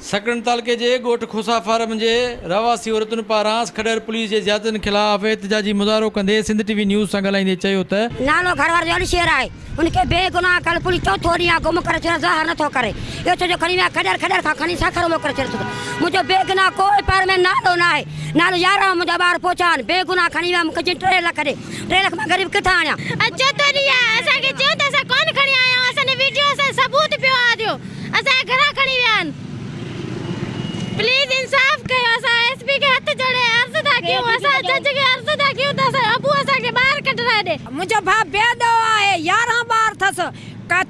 سکڻ تعلقي جي ڳوٺ کوسا فارم جي رهواسي عورتن پاران کڏهر پوليس جي زيادتين خلاف احتجاجي مظاهرو ڪندي سنڌ ٽي وي نيوز سان ڳالهائيندي چيو ته، نالو گهر واري جو علي شير آهي ان کي بي گناهه ڪل پوليس چوٿون ڏينهن آ گم ڪري ڇڏيو ظاهر نٿو ڪري اهو ڇو جو کڻي ويا کڏهر کڏهر کان کڻي سکر موڪلي ڇڏيو ڇو ته منهنجو بي گناهه ڪوئي پهر ۾ نالو ناهي نالو يارهن منهنجا ٻار پوچا آهن بي گناهه کڻي ويا مون کي چين ٽي لک ڏي ٽي لک مان غريب ڪٿان آڻيان. اڄ چوٿون ڏينهن آهي اسان کي چيو ته اسان ڪونه کڻي آيا آهيون اسان جي ويڊيو اسان جو ثبوت پيو آ ڏيو. اسان کي گهران کڻي ويا آهن پليز انصاف ڪيو اسان ايس پي کي هٿ جوڙي عرض ٿا ڪيون اسان جج کي عرض ٿا ڪيون ته اسان جو ابو اسان کي ٻاهر ڪڍرائي ڏي. منهنجو ڀاء بيدو آهي يارهن ٻار ٿس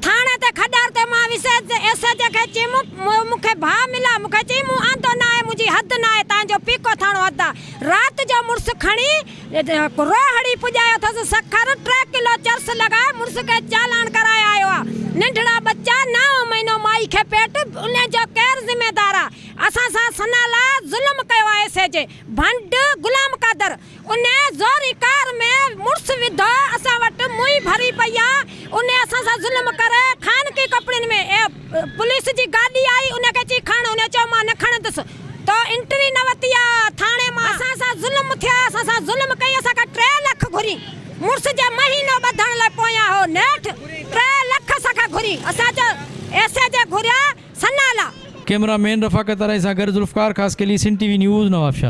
ٿاڻي تي کڏر تي مان ويس ايس ايچ او کي چيم مون کي ڀاء مليا مون کي چيم مون آندو ناهي منهنجي حد ناهي تانجو پيڪو ٿاڻو حد آ رات جو مڙس کڻي اتي ڪرو هڻي پڄايو اٿس سکر ٽي ڪلو چرس لڳائي مڙس کي چالان ڪرائي آيو آ ننڍڙا ٻچا نائون مهينو مائي کي پيٽ ان جو ڪير ذميدار آ اسان سان سنا لاء ظلم ڪيو آ ايس ايچ ڀنڊ غلام قادر ان زوري ڪار ۾ مڙس وڌو اسان وٽ موئي ڀري پئي آ ان اسان سان ظلم ڪري خانگي ڪپڙن ۾ پوليس جي گاڏي آئي ان کي چئي کڻ ان چيو مان نه کڻندس. تو انٽري نه وتي آ ٿاڻي مان. اسان سان ظلم ٿيا اسان سان ظلم ڪئي اسان کان ٽي لک گهري مڙس جي مهينو ٻڌڻ لئي پويان هو نيٺ ٽي لک اسان کان گهري اسان چيو ايس اي جي گهريا سنالا. ڪئميرا مين رفاقت اراهي سان گڏ ذوالفقار خاصخيلي سنڌ ٽي وي نيوز نوابشاهه.